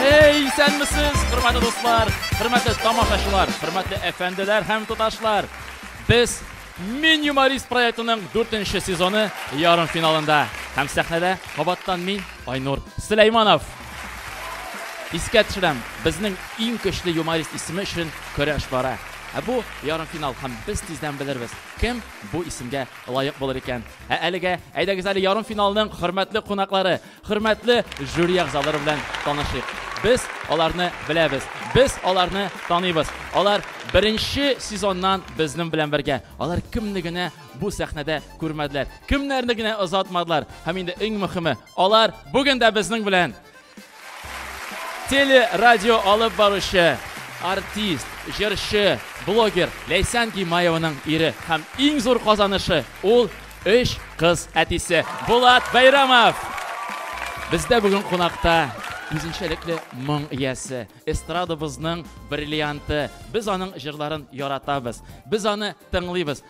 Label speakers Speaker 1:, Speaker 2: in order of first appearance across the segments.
Speaker 1: Эй, исәнмесез, хөрмәтле дуслар, хөрмәтле тамашачылар, хөрмәтле әфәнделәр һәм туташлар. Без Мин юморист проектының 4-нче сезоны ярым финалында. Һәм сәхнәдә кабаттан мин, Айнур Сөләйманов. Искә төшерәм, безнең иң көчле юморист исеме өчен көрәш бара. Ә бу ярым финал һәм без тиздән белербез, кем бу исемгә лаек булыр икән. Ә әлегә әйдәгез әле ярымфиналның хөрмәтле кунаклары, хөрмәтле жюри әгъзалары белән танышыйк. Без аларны беләбез, без аларны таныйбыз. Алар беренче сезоннан безнең белән бергә. Алар кемне генә бу сәхнәдә күрмәделәр, кемнәрне генә озатмадылар. Һәм инде иң мөхиме, алар бүген дә безнең белән. Телерадио алып баручы, артист, җырчы, блогер Ләйсән Гимаеваның ире һәм иң зур казанышы ул өч кыз әтисе Булат Бәйрәмов. Бездә бүген кунакта үзенчәлекле моң иясе, эстрадабызның бриллианты. Без аның җырларын яратабыз. Без аны тыңлыйбыз.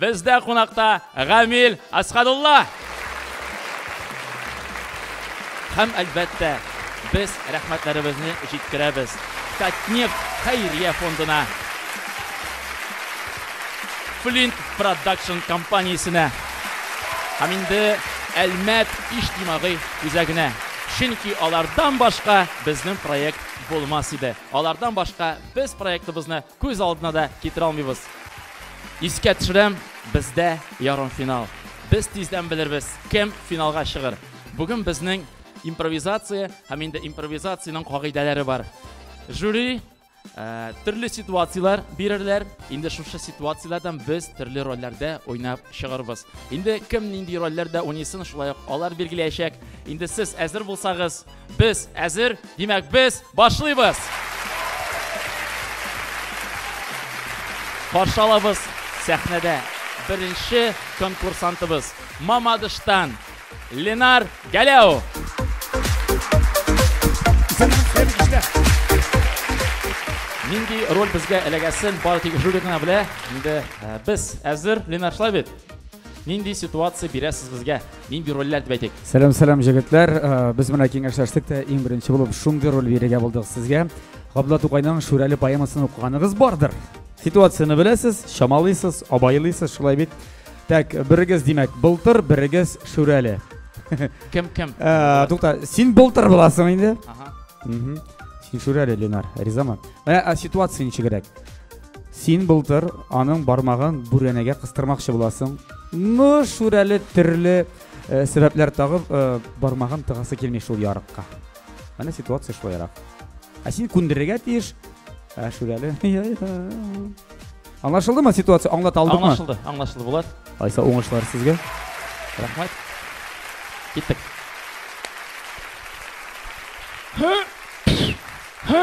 Speaker 1: Бездә кунакта Гамил Асхадулла! Һәм, әлбәттә, без рәхмәтләребезне җиткерәбез Татнефть хәйрия фондына, Флинт Продакшн компаниясенә һәм инде Әлмәт иҗтимагый үзәгенә. Чөнки алардан башка безнең проект булмас иде. Алардан башка без проектыбызны Күз алдына да китерә алмыйбыз. Искә төшерәм, бездә ярымфинал. Без тиздән белербез, кем финалга чыгыр. Бүген безнең импровизация һәм инде импровизациянең кагыйдәләре бар. Жюри төрле ситуацияләр бирерләр. Инде шушы ситуацияләрдән без төрле рольләрдә уйнап чыгарбыз. Инде кем нинди рольләрдә уйныйсын, шулай ук алар билгеләячәк. Инде сез әзер булсагыз, Без әзер, димәк без башлыйбыз. Каршы алабыз сәхнәдә беренче конкурсантыбыз Мамадыштан Ленар Галәу. Нинди роль безгә эләгәсен бары тик жюри гына белә. Инде э, без әзер, Ленар шулай бит? Нинди ситуация бирәсез безгә? Нинди рольләр дип әйтик? Сәлам, сәлам, җегетләр.
Speaker 2: Э, без менә киңәшләштек тә иң беренче булып шундый роль бирергә булдык сезгә. Габдулла Тукайның Шүрәле поэмасын укыганыгыз бардыр. Ситуацияне беләсез, чамалыйсыз, абайлыйсыз, шулай бит. Так, берегез, димәк, былтыр, берегез Шүрәле. Кем
Speaker 1: кем? Э, Тукта,
Speaker 2: син былтыр буласың инде. Ага. Син Шүрәле, Ленар, ризамы? Менә ситуация ничегрәк? Син былтыр аның бармагын бүрәнәгә кыстырмакчы буласың. Ну, Шүрәле төрле э, сәбәпләр тагып э, бармагын тыгасы килми шул ярыкка. Менә ситуация шулайрак. Ә син күндерергә тиеш. Ә Шүрәле. Аңлашылдымы ситуация? Аңлата алдыкмы? Аңлашылды, аңлашылды Булат.
Speaker 1: Айса уңышлар
Speaker 2: сезгә. Рәхмәт.
Speaker 1: Киттек.
Speaker 3: Һы! Һы!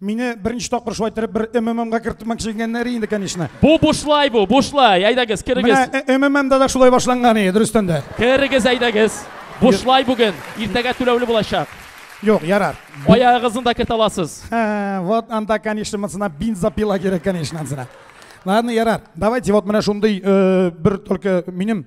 Speaker 1: Мине беренче
Speaker 3: тапкыр шулай иттереп бер МММга кертмәкче икәннәр инде, конечно. Бу бушлай бу,
Speaker 1: бушлай. Әйдәгез, керегез. Менә МММда да шулай
Speaker 3: башланган иде, дөрестән дә. Керегез, әйдәгез.
Speaker 1: Бушлай бүген, иртәгә түләүле булачак. Юк, ярар.
Speaker 3: Аягыгызны да кертә
Speaker 1: аласыз. Ха, вот анда,
Speaker 3: конечно, монсына бензопила кирәк, конечно, монсына. Ладно, ярар. Давайте вот менә шундый э, бер только минем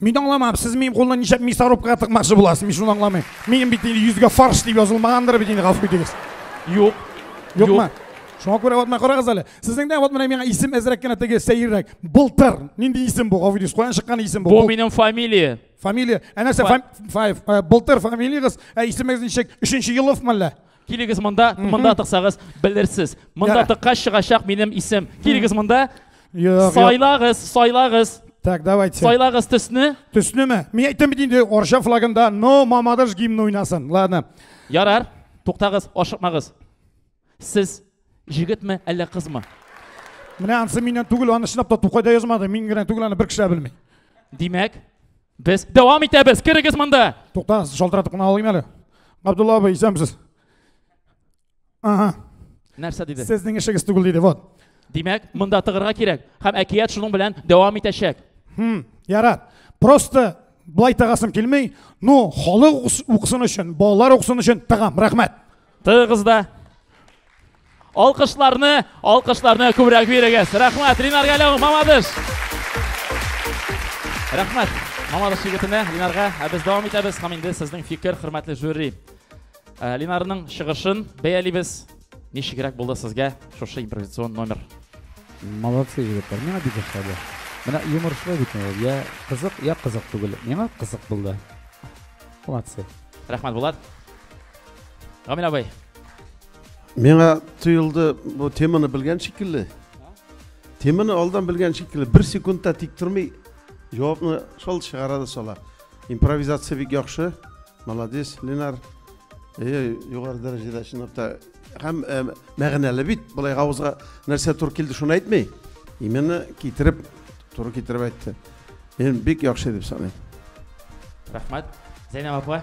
Speaker 1: Мин аңламам, сез
Speaker 3: минем кулны ничек мясорубкага тыкмакчы буласыз, мин шуны аңламыйм. Минем бит инде йөзгә фарш дип язылмагандыр бит инде, гафу итегез. Юк. Юкмы? Шуңа күрә вот менә карагыз әле. Сезнең дә вот менә миңа исем әзрәк кенә теге сәеррәк. Былтыр. Нинди исем бу, гафу итегез. Каян чыккан исем бу? Бу минем фамилия.
Speaker 1: Фамилия. Ә нәрсә?
Speaker 3: Былтыр фамилиягыз, ә исемегез ничек? Өченче елов мәллә? Килегез монда,
Speaker 1: монда тыксагыз, белерсез. Монда тыккач чыгачак минем исем. Килегез монда. Сайлагыз, сайлагыз. Так, давайте. Сайлагыз
Speaker 3: төсне.
Speaker 1: Төснеме? Мин әйтәм
Speaker 3: бит инде Орша флагында но мамадыш гимн уйнасын. Ладно. Ярар.
Speaker 1: Туктагыз, ашыкмагыз. Сез җегетме, әллә кызмы? Менә
Speaker 3: ансы миннән түгел, аны чынлап та Тукайда язмады. Мин генә түгел, аны бер кеше белми. Димәк,
Speaker 1: Без дәвам итәбез. Керегез монда. Туктагыз, шалтыратып кына
Speaker 3: алыйм әле. Габдулла абый, исәнмесез? Ага. Нәрсә
Speaker 1: диде? Сезнең эшегез түгел диде, вот.
Speaker 3: Димәк, монда
Speaker 1: тыгырга кирәк. Һәм әкият шуның белән дәвам итәчәк. Хм, ярар.
Speaker 3: Просто былай тагасым килмей, ну, халык укысын өчен, балалар укысын өчен тагам. Рәхмәт. Тыгыз да.
Speaker 1: Алкышларны, алкышларны күбрәк бирегез. Рәхмәт, Ринар Галәү, мамадыш. Рәхмәт, мамадыш егетенә, Ринарга. Ә без дәвам итәбез һәм инде сезнең фикер, хөрмәтле жюри. Э, Линарның чыгышын бәялибез. Ничегрәк булды сезгә шушы импровизацион номер? Молодцы,
Speaker 2: егетләр. Миңа бик ошады. Менә юморшлы бит ул. Я кызык, я кызык түгел. Миңа кызык булды. Молодцы. Рәхмәт, Булат.
Speaker 1: Гамил абый.
Speaker 4: Миңа тоелды, бу теманы белгән шикелле. Теманы алдан белгән шикелле, бер секундта тик тормый, җавапны шул чыгара да сала. Импровизация бик яхшы. Молодец, Ленар. Э, югары дәрәҗәдә чынлап та һәм э, мәгънәле бит. Булай авызга нәрсә туры килде, шуны әйтми. Именно китереп, туры китереп әйтте. Мин бик яхшы дип саныйм.
Speaker 1: Рәхмәт. Зәйнәб апа.